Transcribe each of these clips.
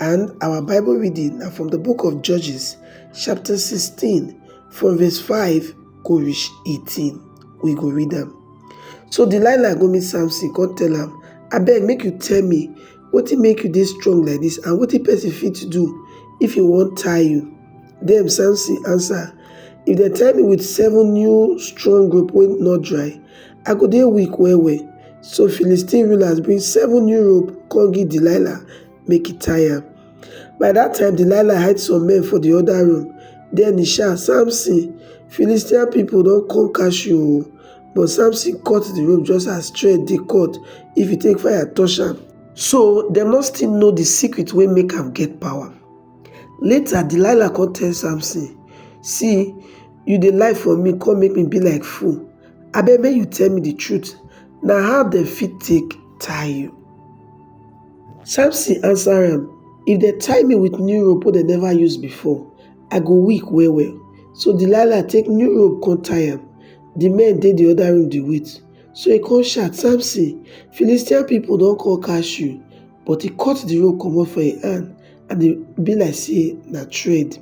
And our Bible reading na from the book of Judges, chapter 16, from verse 5 go reach 18. We go read them. So Delilah go meet Samson, come tell am, abeg make you tell me wetin make you dey strong like this and wetin person fit to do if he wan tie you. Dem Samson answer, if dem tie me with seven new strong rope wey not dry, I go dey weak well well. So Philistine rulers bring seven new rope come give Delilah make e tie am. By dat time, Delilah hide some men for di oda room. Den e shout, Samson, Philistine pipo don come catch you o! But Samson cut di rope just as thread dey cut if e take fire touch am. So dem no still know di secret wey make am get power. Later, Delilah come tell Samson, See, you dey lie for me come make me be like fool. Abeg make you tell me di truth, na how dem fit take tie you? Samson answer am, If dem tie me with new rope wey dem never use before, I go weak well well. So Delilah take new rope come tie am. The men dey the other room dey wait. So he come shout, Samson, Philistine people don come catch you. But he cut the rope comot for him hand and e be like say na thread.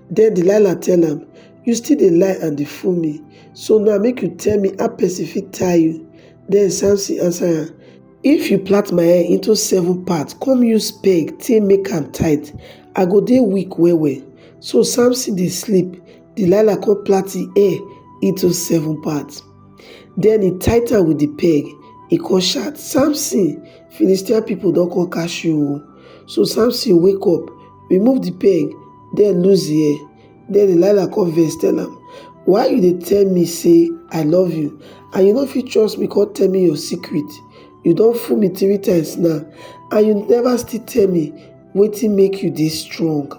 Then Delilah tell am, You still dey lie and dey fool me. So now make you tell me how person fit tie you. Then Samson answer am, if you plait my hair into seven part come use peg take make am tight i go dey weak well well so samson dey sleep delilah come plait him hair into seven part then he tight am with the peg he come shout samson philistine people don come catch you o so samson wake up remove the peg then loose the hair Den Delilah come vex tell am, Why you dey tell me say I love you and you no fit trust me come tell me your secret? You don fool me three times now and you never still tell me wetin make you dey strong.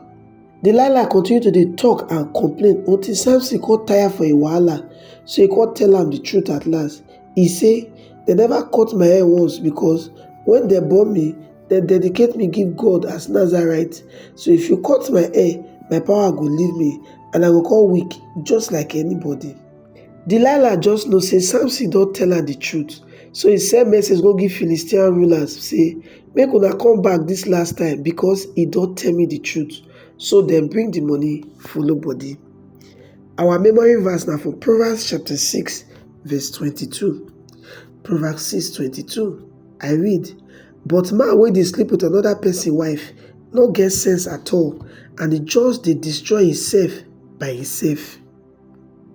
Delilah continue to dey talk and complain until Samson come tire for im wahala so e come tell am the truth at last. E say, Dem never cut my hair once because when dem born me, dem dedicate me give god as nazarite so if you cut my hair my power go leave me and i go come weak just like anybody delilah just know say samson don tell her the truth so he send message go give philistine rulers say make una come back this last time because he don tell me the truth so dem bring the money follow body our memory verse na for proverbs chapter 6 verse 22 proverbs 6 22 I read, But man wey dey sleep with another person wife no get sense at all and e just dey destroy himself by himself.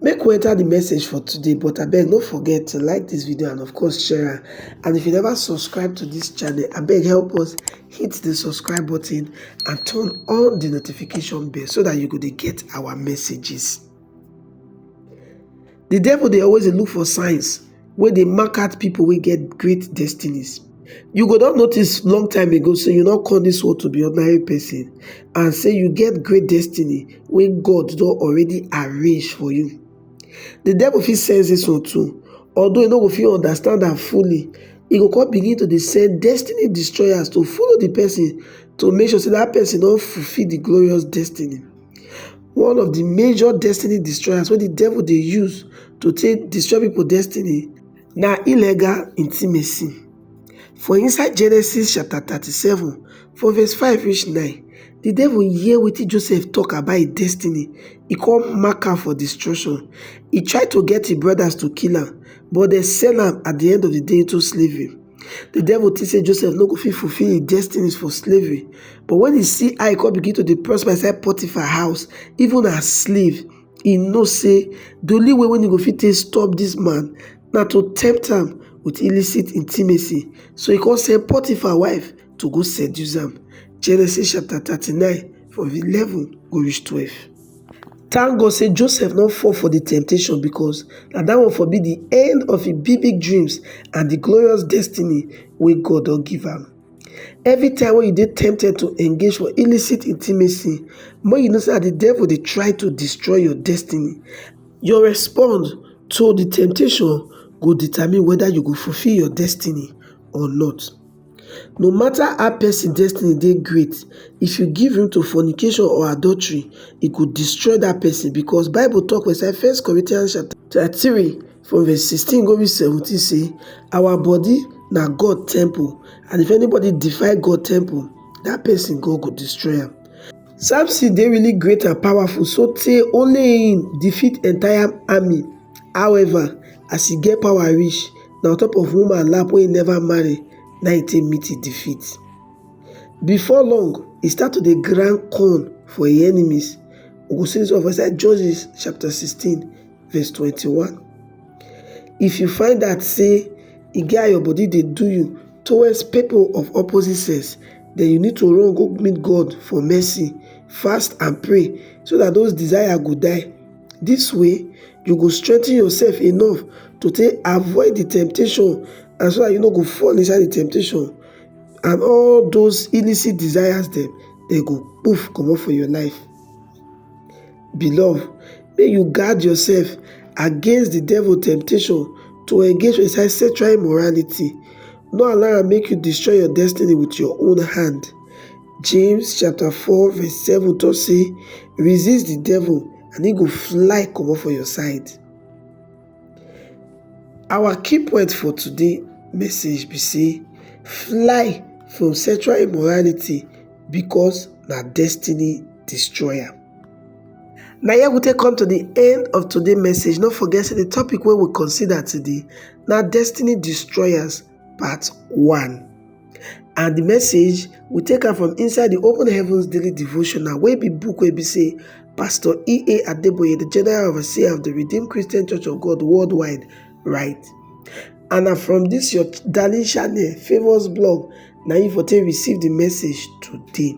Make we enter the message for today but abeg no forget to like this video and of course share am and if you never subscribe to this channel abeg help us hit the subscribe button and turn on the notification bell so that you go dey get our messages. Di devil dey always dey look for signs wey dey mark out pipo wey get great destinies. You go don notice long time ago sey you no come dis world to be ordinary pesin and sey you get great destiny wey God don already arrange for you. Di devil fit sense dis one too although e no go fit understand am fully, e go come begin to dey send destiny destroyers to follow di pesin to make sure sey dat pesin don fulfill di glorious destiny. One of di major destiny destroyers wey di devil dey use to take destroy pipo destiny na illegal intimacy. For inside Genesis chapter thirty seven from verse five reach nine, di devil hear wetin Joseph talk about im destiny, e come mark am for destruction. E try to get im brothers to kill am but dem sell am at di end of di day into slavery. Di devil tink sey Joseph no go fit fulfil im destinies for slavery, but wen e see how e come begin to dey prosper inside Potiphar house, even as slave, e know sey di only way wey e go fit take stop dis man na to tempt am with illicit intimacy. So e come send Potiphar wife to go seduce am, Genesis chapter thirty nine from eleven go reach twelve. Thank God say Joseph no fall for the temptation because na that one for be the end of him big big dreams and the glorious destiny wey God don give am. Every time when you dey tempted to engage for illicit intimacy, make you know say na the devil dey try to destroy your destiny. Your response to the temptation go determine whether you go fulfill your destiny or not. No matter how person destiny dey great, if you give room to fornication or adultery, e go destroy that person because bible talk for inside first Corinthians chapter 3 from verse 16 go reach 17 say our body na God temple and if anybody defy God temple, that person God go destroy am. Samson dey really great and powerful so tey only him defeat entire army however as he get power reach, na on top of woman lap wey he never marry na he take meet he defeat. Before long, he start to dey grind corn for him enemies. We go see this one for inside Judges chapter 16 verse 21. If you find out say e get how your body dey do you towards people of opposite sex, then you need to run go meet God for mercy, fast and pray so that those desire go die. Dis way, you go strengthen yourself enough to take avoid the temptation and so that you no go fall inside the temptation and all those illicit desires dem, dem go poof comot for your life. Beloved, make you guard yourself against the devil temptation to engage for inside sexual immorality. No allow am make you destroy your destiny with your own hand. James chapter 4 verse 7 talk say resist the devil and he go fly comot for your side. Our key point for today message be say fly from sexual immorality because na destiny destroyer. Na here we take come to the end of today message. No forget say the topic wey we consider today na destiny destroyers part 1. And the message we take am from inside the Open Heavens Daily Devotional wey be book wey be say Pastor E.A. Adeboye, the General Overseer of the Redeemed Christian Church of God worldwide, write. And na from this your darling channel, Favours Blog, na you for take receive the message today.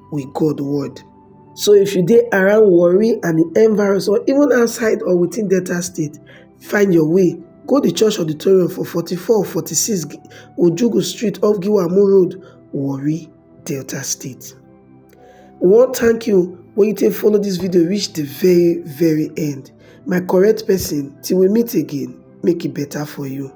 with God word. So if you dey around worry and the end virus or even outside or within Delta State, find your way. Go the church auditorium for 44 46 Ojugu Street off Giwamu Road, Warri, Delta State. We wan thank you when you take follow this video reach the very very end. My correct person, till we meet again, make it better for you.